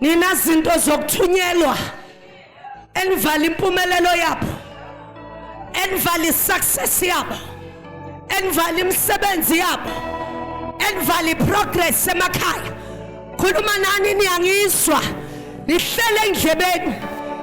nina zinto zokuthunyelwa enivala impumelelo yabo enivala isuccess yabo enivala imisebenzi yabo enivala iprogress emakhaya khuluma nani niyangizwa nihlele endlebeni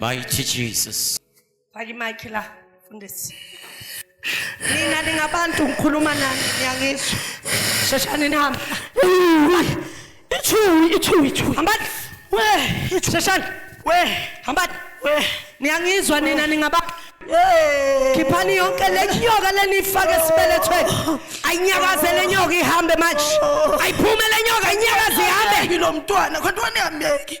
Mighty Jesus. Faki mic la fundisi. Nina ningabantu ngikhuluma nani ngiyangizwa. Sheshani nihamba. Ithuyi, ithuyi, ithuyi. Hambani. We, ithuyi. Sheshani. We, hambani. We, niyangizwa nina ningabantu. Khiphani yonke le nyoka lenifake esibelethweni. Ayinyakaze le nyoka ihambe manje. Ayiphume le nyoka inyakaze ihambe. Ngilomntwana kodwa nihambeki.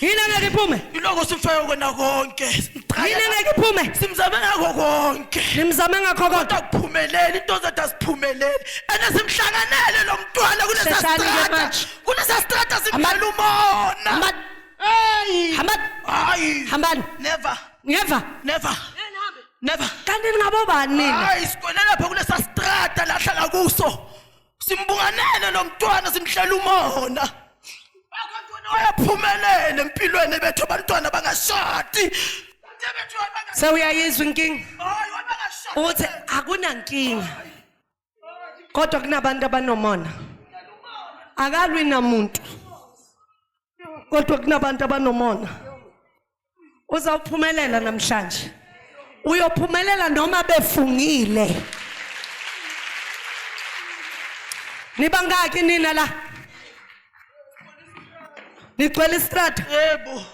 yini angeke iphume iloko simfayo kona konke yini angeke iphume simzame ngakho konke nimzame ngakho konke kodwa kuphumelele into zethu asiphumelele ene simhlanganele lo mntwana kulesa Sheshani ke strata manje. kulesa strata simdlala umona hamba Hey! hamba hayi hambani never ngeva never never kanti ningabobani nina hayi sigwele lapha kulesa strata lahlala kuso simbunganele lo mntwana simhlela umona wayaphumelele empilweni bethu abantwana bangashadi sewuyayizwa inkinga uthi akunankinga kodwa kunabantu abanomona akalwi namuntu kodwa kunabantu abanomona uzawuphumelela namhlanje uyophumelela noma befungile nibangaki nina la nigcwele istrata yebo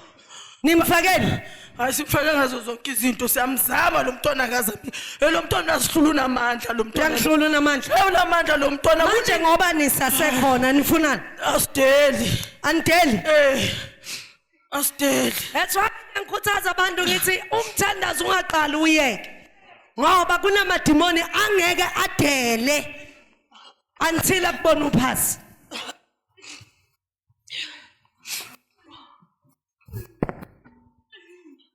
nimfakeni hayi simfake ngazo zonke izinto siyamzama lo mntwana akazami lo mntwana asihlula unamandla lo mntwana uyangihlula unamandla unamandla lo mntwana manje ngoba nisasekhona nifunani asideli anideli eh Asteli. That's why ngikhuthaza abantu ngithi umthandazo ungaqali uyeke. Ngoba kunamadimoni angeke adele until akubona uphasi.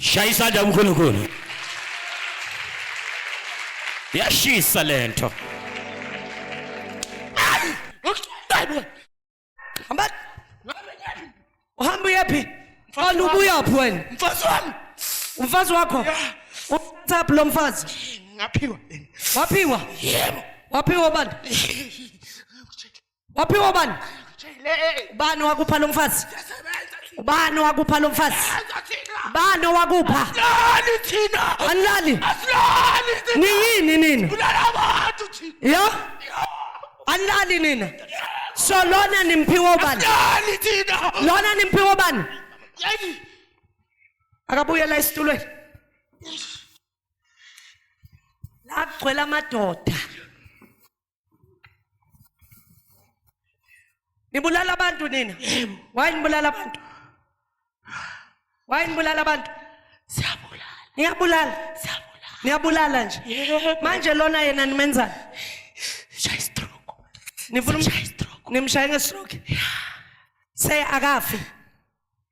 shaya isandla uNkulunkulu yashisa lento uhamba uyephi mfana ubuyaphi wena mfazi wami umfazi wakho uthatha lo mfazi ngaphiwa waphiwa yebo waphiwa bani waphiwa ubani ubani wakupha lo mfazi ubani wakupha lo mfazi ubani owakupha asilali thina anilali asilali thina niyini nina kulala abantu thina yo anilali nina so lona nimphiwa ubani asilali thina lona nimphiwa ubani Yey, akabuyela esitulweni la kugcwele amadoda Nibulala abantu nina. Why nibulala abantu? Why nibulala abantu? Siyabulala. Niyabulala. Siyabulala. Niyabulala nje. Manje lona yena nimenzani? Shaya stroke. Nifuna umshaya stroke. Nimshaya ngestroke. Say akafi.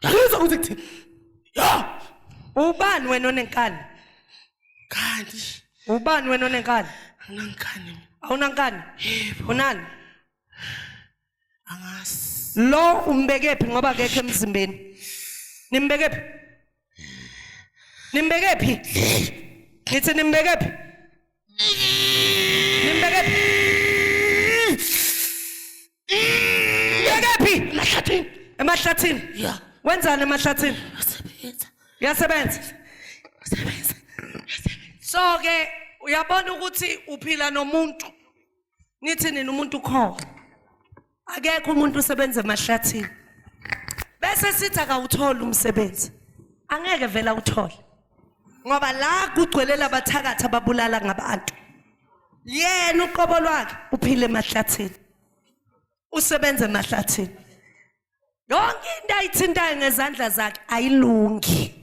Ngizwa ukuthi kuthi yo Ubani wena onenkani? kanti Ubani wena onenkani? anangikani Awunankani? Yebo. Unani? angazi Lo umbekephi ngoba akekho emzimbeni? Nimbekephi? Nimbekephi? Ngithi nimbekephi? emahlathini ya wenzani emahlathini usebenza uyasebenza usebenza so ke uyabona ukuthi uphila nomuntu Nithi nina umuntu ukhona. Akekho umuntu usebenza emahlathini. Bese sithi akawutholi umsebenzi. Angeke vela uthole. Ngoba la kugcwele labathakathi ababulala ngabantu. Yena uqobo lwakhe uphile emahlathini. Usebenza emahlathini. Yonke into ayithintayo ngezandla zakhe ayilungi.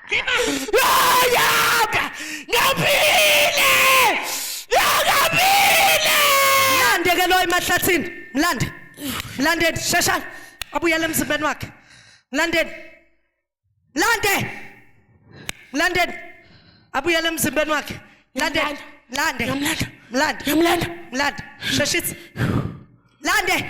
Yaka! Ngaphile! Yakaphile! Mlande ke lo emahlathini. Mlande. Mlandeni sheshani. Abuyele emzimbeni wakhe. Mlandeni. Mlande. Mlandeni. Abuyele emzimbeni wakhe. Mlande. Mlande. Mlande. Mlande. Mlande. Sheshisa. Mlande.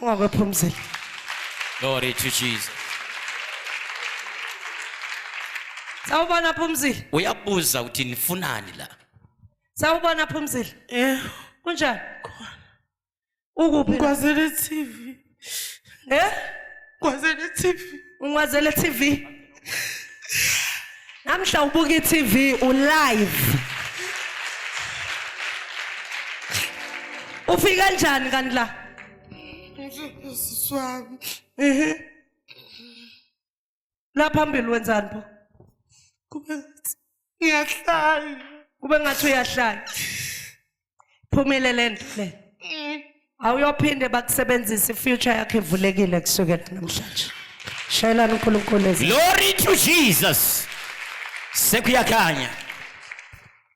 Ungakwephumzela. Glory to Jesus. Sawubona Phumzile. Uyabuza ukuthi nifunani la? Sawubona Phumzile. Eh, Kunjani? Khona. Ukuphi? la? Ngwazele TV. Eh? Ngwazele TV. Ungwazele TV. Namhla ubuka iTV u live. Ufika kanjani kanti la? Ngizosiswami. Ehe. la phambili wenzani pho kube ngiyahlaya kube ngathi uyahlaya phumile le nto le mm. awuyophinde bakusebenzise ifuture yakho evulekile kusukela namhlanje shayelani unkulunkulu glory to jesus sekuyakhanya